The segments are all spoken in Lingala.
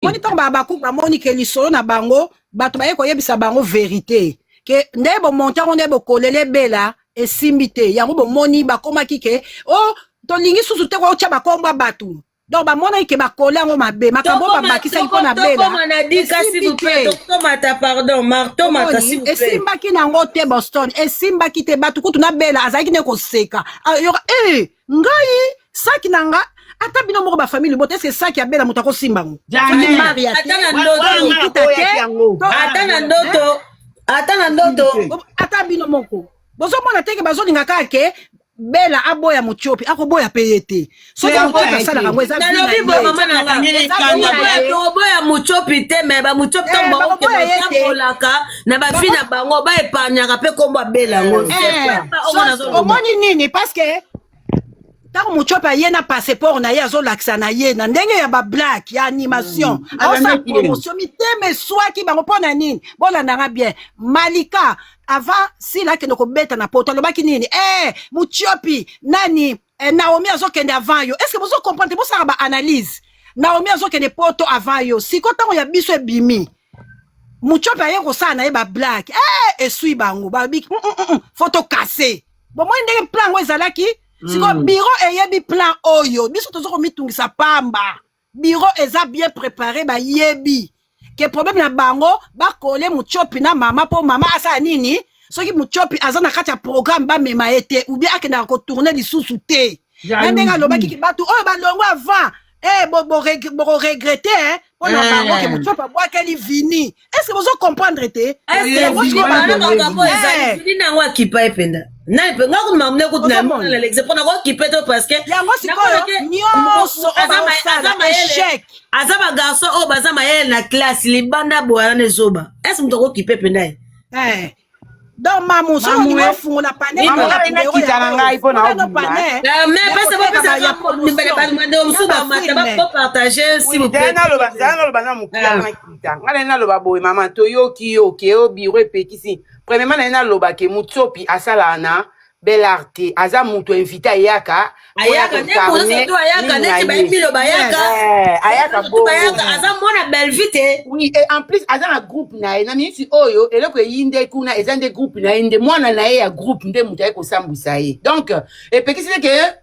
moni ntango bahabakuku bamoni ke lisolo na bango bato baye koyebisa bango verite ke nde bomonte yango nde bokolela ebela esimbi te yango bomoni bakomaki ke o oh, tolingi susu te kootya bakombo ya bato donc bamonaki ke bakole yango mabe makambo babakisaki mpo na belaesimbaki nango te boston esimbaki te bato kutu na bela azalaki nde koseka ah, yoka e eh, ngai saki na nga ata bino moko bafamille libota eske saki abela moto akosimba ngo ata na ndoto ata na ndoto ata bino moko bozomona teke bazolinga kaka ke bela aboya motiopi akoboya mpe ye te soki motiopi asalaka yango ezanalobi boye mama nanga oboya motiopi te me bamotiopi ntango baokebatambolaka na bavi na bango ba epargnaka mpe nkombo abela yango eh, omoni nini parce que ntango motiope aye na passeport na ye azolakisa na ye na ndenge ya bablake ya animation mm. aosa promotion mitema eswaki bango mpo na nini bolandanga bien malika avant sila akende kobeta na poto alobaki nini e eh, motiopi nani eh, Naomi azokende avant yo est-ce que bozo comprendre bosaka ba analyse Naomi azokende poto avant yo siko ntango ya biso ebimi mucope aye kosala na ye bablake eh, esui bango babiki mm, mm, mm, fo tokase bomoni ndenge plan yango ezalaki siko biro eyebi plan oyo biso toza komitungisa pamba Bureau eza bien prepare bayebi ke problème na bango bakole muchopi na mama mpo mama asala nini soki muchopi aza na kati ya programme bamema ye te ou bien akendaka kotourne lisusu te na ndenge alobaki ki bato oyo balongo avant eh, bokoregrete eh, mpo na eh. bango ke muchopi abwakeli vini est-ce que bozo comprendre te nango akipa ye mpenza nani mpe nga kuna mamune kutu na mona na lexe mpo nakokipe to parce que yango sikoyo nyonso echec aza bagarçon oyo baza mayele na classe libanda boyana ne zoba est ce moto akokipe mpenza ye eh. donc mamu soki olingi ofungola panelkita na ngai mpo naobanaloba na mokuya makita ngai naye naloba boye mama toyoki yo ke o biro epekisi premièrement naye naloba ke mutsopi asalaka na belarte aza mutu invite ayaka ayaka nde koza to ayaka neti bayebilo bayaka eh, ayaka bo bayaka aza mwana bellevue te oui et en plus aza na groupe na ye na minisi oyo eloko eyi nde kuna eza nde groupe na ye nde mwana na ye ya groupe nde moto aye kosambwisa ye donc epekisi te ke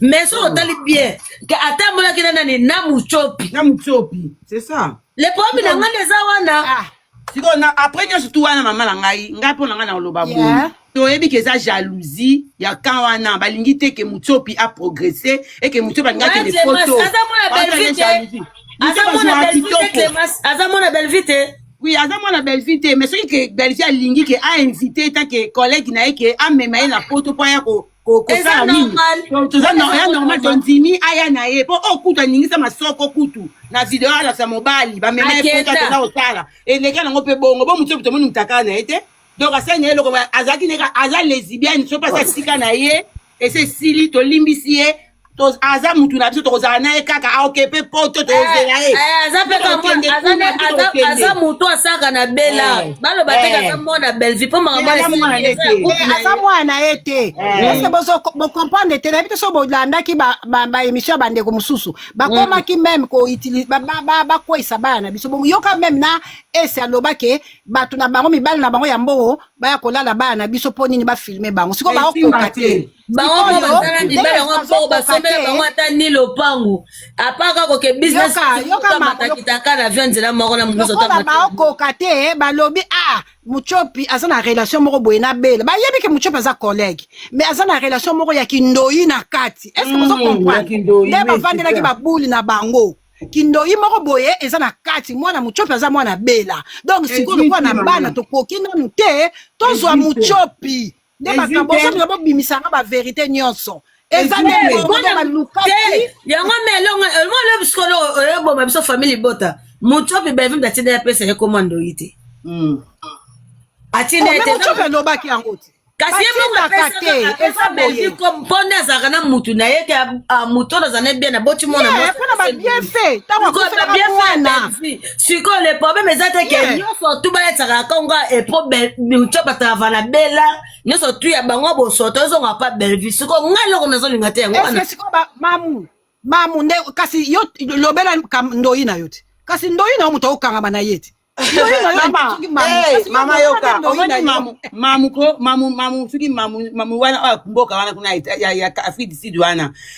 mais soki otali bien ke ata amonaki na nani na mucopi na mucopi c'est ça le problème na ngai eza wana ah, sikoyo na après nyonso tu wana mama na ngai ngai mpo na ngai na koloba boye toyebi ke eza jalousie ya kan wana balingi te ke mucopi aprogresse eke mucopi alingi akende poto aza mwana belvi te oui aza mwana bellevue te mais soki ke bellevue alingi ke ainvite ta ke collègue na ye ke amema ye na poto mpo aya ko kosala nini toza ya normal tondimi aya na ye mpo oyo oh, kutu aningisa masoko kutu na video alakisa mobali bamemaekotatoza kosala eleki yango mpe bongo bo motu tomoni motaka na ye te donc asali na ye eloko azalaki neka aza lesibiane so mpasi asika na ye ese esili tolimbisi ye aza mutu na biso tokozala na ye kaka aokepe poto tozela ye aza moto asaka na bela eh, baloba te eh. aza mwana belvi mpo makaaza mwana na ye te parceke eh. bocomprendre te nayebi te so bolandaki baémission ya bandeko mosusu bakomaki mm. meme bakweisa bana na biso yoka meme na ese aloba ke bato na bango mibali na bango ya mbongo baya kolala bana na biso mpo nini bafilme bango sikoyo baokoka te bango moko baza na mibali yango mpo basombela bango ata ni lopango apart kaka koke businessmatakitaka na vio nzela moko na mokosokola baokoka te balobi a ah, mucopi aza na relation moko boye na bela bayebi ke mucopi aza collègue mais aza na relation moko ya kindoyi na kati est ce que bozo hmm, comprendre nde bavandelaki babuli na bango kindoyi moko boye eza na kati mwana mucopi aza mwana bela donc sikoyo lokola na bana tokoki nanu te tozwa mucopi nde makambo ozomika bobimisanga baverité nyonso eza nde balukaki yango me elongo elongo lobi sikolo oyoboma biso famille libota moto oyo bevimbe atinda ya pesa ye koma ndoyi te hmm. atinda ye te alobaki yango te kasi ye moko apesa belgi mpo nde azalaka na mutu na ye ke moto oyo azala na bien aboti mwana mwana babienfait ntango akofelaka mwana sikoyo le problème eza te ke Yeah. nyonso tu balataka na kongo epo mutio batava na bela nyonso tu ya bango bosoto ezonga pa bellevue sikoyo ngai eloko nazolinga te yango eske wana sikoyo ba- mamu mamu nde kasi yo lobela kam- ndoyi na yo te kasi ndoyi na yo moto okangama na ye te ndoyi na yo Mama, soki mamu, eh, kasi yo mama okomona yoka, ndoyi na omoni yo. mamu, mamu ko, mamu, mamu, soki mamu, mamu wana oyo ya mboka wana kuna ya, ya, ya Afrique du Sud wana.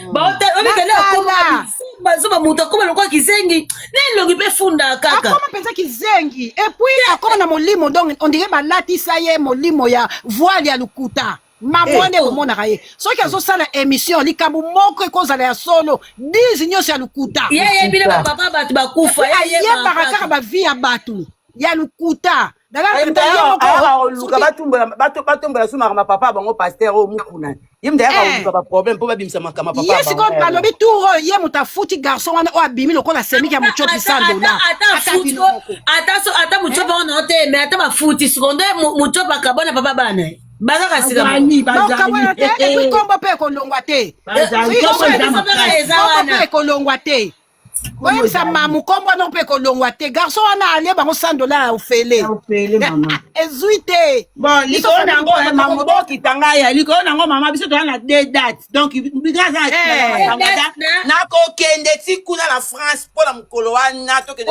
Mm. baotamikende akoma bazoba moto akoma lokola kizengi na elongi mpe funda kaka akoma mpenza kizengi epuis akoma na molimo donc ondire balatisa ye molimo ya voile ya lokuta mamwa nde eh, oh. omonaka ye soki azosala émission likambo moko ekozala ya solo dise nyonso ya lokuta yeyebile bapapa bato bakufa ayebaka kaka bavie ya bato ya lokuta ayakoluka batombola so makambo papa bango paster oyo mokuna ye moto ayaka koluka eh. baproblème mpo babimisa makambo papa ye sikoyo balobi tour oyo ye moto afuti garçon wana oyo abimi lokola semiki ya mocopi sandola ata mocopi eh? wana te mais ata bafuti sikoyo nde mocopi akabona papa bana baza kasi naokabona te epi nkombo mpe ekolongwa te ekolongwa te oyebisa mamu kombo wana mpe kolongwa te garso wana alie bango 100 dollars ya ofele ezwi te likolo na yango eh, mamu bokita ngai ya likolo na yango mama biso toza na de date donc nakokende ti kuna na france mpo na mokolo wana tokende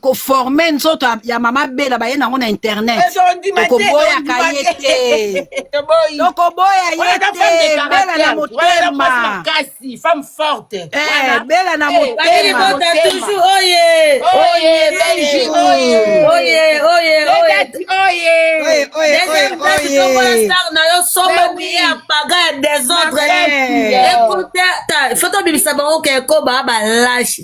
koforme nzoto ya mama bela baye nango na internet okoboyaka ye te tokoboya ye te bela na motema bela na motema na yo somba biye ya paga ya desordre ekota foto bimisa bango ke ekoba balashi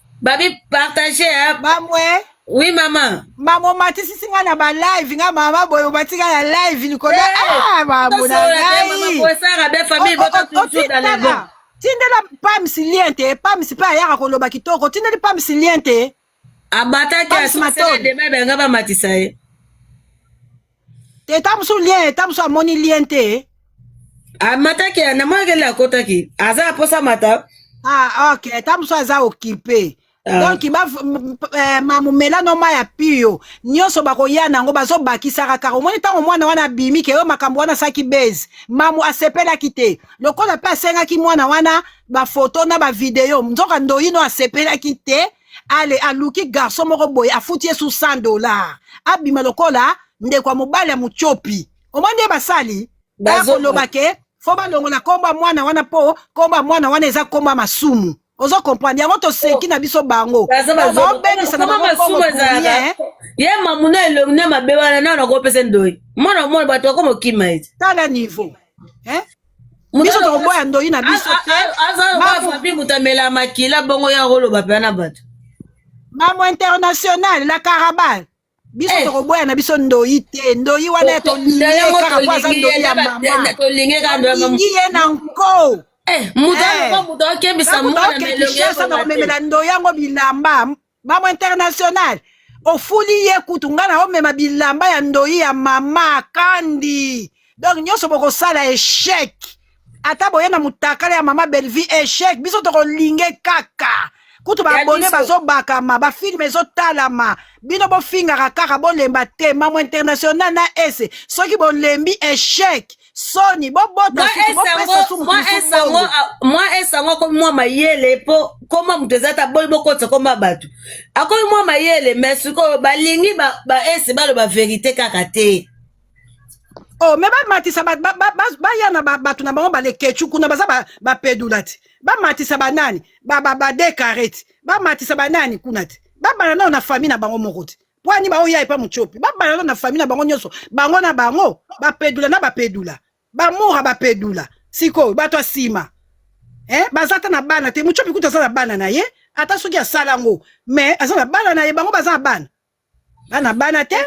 babi partage hein? mamwe oui mama mama omatisisi nga na balive nga mama boye omatika na live likolo eh, ah, mamonangaitindela tindela pams lien te pams mpe ayaka koloba kitoko tindeli pams lien te abataki asdema ebanga bamatisa ye Teta mosusu lien, teta mosusu amoni lien te. Amataki, ah, namonaki ele akotaki. Aza aposa mata. Ah, ok. Teta mosusu aza occupé. Ah. donc ba eh, mamumela no mai ya pio nyonso bakoya na yango bazobakisaka kaka omoni ntango mwana wana abimi keyo makambo wana asaki base mamu asepelaki te lokola mpe asengaki mwana wana bafoto na bavideo nzoka ndoyino asepelaki te ale aluki garçon moko boye afuti ye su 100 dollar abima lokola ndeko ya mobali ya mutiopi omoni nde basali bakoloba ke fo balongola nkombo ya mwana wana mpo nkombo ya mwana wana eza nkombo ya masumu ozo comprendre yango toseki na biso bango baobebisa na bango eh. ye mamuna elongi na mabe wana nao nakopesa ndoyi mwana mwana bato bakoma okima ete tala niveau eh? biso tokoboya ndoyi na biso te azafabi mutamela makila bongo ya koloba mpe na bato mambo international la carabal biso eh. tokoboya na biso ndoyi te ndoyi wana ya tolingi ye kaka po aza ndoyi ya mamatolingi ye na nko eh, moto eh. akokebisa mwana na elongi ya komemela ndoyi yango bilamba Mamu international ofuli ye kutu ngai naomema bilamba ya ndoyi ya mama kandi donc nyonso bokosala echec ata boye na mutakala ya mama bellevue echec biso tokolinge kaka kutu baabone bazobakama bafilme ezotalama bino bofingaka kaka bolemba te mamo international na ese soki bolembi echec soni bobota mwa esango akomi mwa mayele mpo koma moto eza ta boli bokotisa koma bato akomi mwa mayele me sikoyo balingi baese baloba verite kaka te o oh, me bamatisa baya na bato na bango balekechu kuna baza bapedula te bamatisa banani badekareti bamatisa banani kuna te babana nao na famille na bango moko te pwani bango ya epa mucopi babalana na famille na bango nyonso bango na bango bapedula na bapedula bamora bapedula sikoyo bato ya nsima eh, baza ata na bana te mucopi kutu aza na bana na ye ata soki asala yango mais aza na bana na ye bango baza na bana bana bana te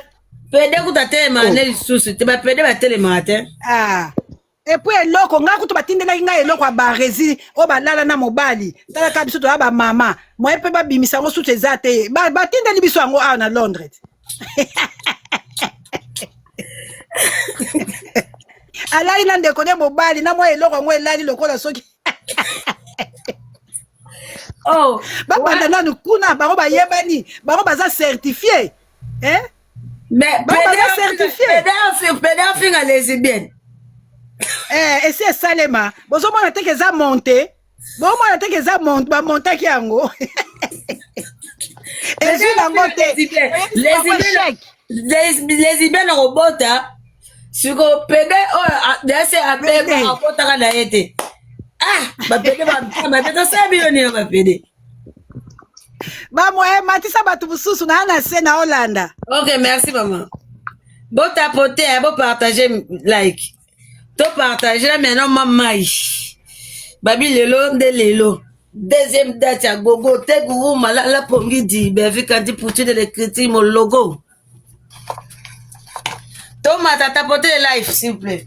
pede kutu atelemaka oh. nde lisusu te bapede batelemaka te ah. epo eloko ngai kutu batindelaki ngai eloko ya barezi oyo balala na mobali talaka biso toya bamama moye mpe babimisa yango susu eza te batindeli biso yango awa na londres alali na ndeko ne mobali na mwa eloko yango elali lokola soki oh, babanda nanu kuna bango bayebani bango baza certifie eh? Mais pede afinga lesbienne. Eh, esi esalema. Bozomona te eza monte. Bomona te eza monte ba montaki yango. Ezwi bango te. Lesbienne akobota siko pede oyo oh, dese abeba akotaka na ye te. Ah, bapede bapede tosala bino nini bapede. bamoye matisa bato mosusu naa na se na olanda ok merci mama botapote ya bopartage like topartage na maintenant ma mai babi lelo nde lelo deuxième date ya gogo te guru malala pongi di bevikandi poutine lekriti mologo tomata tapote life s'il vous plaît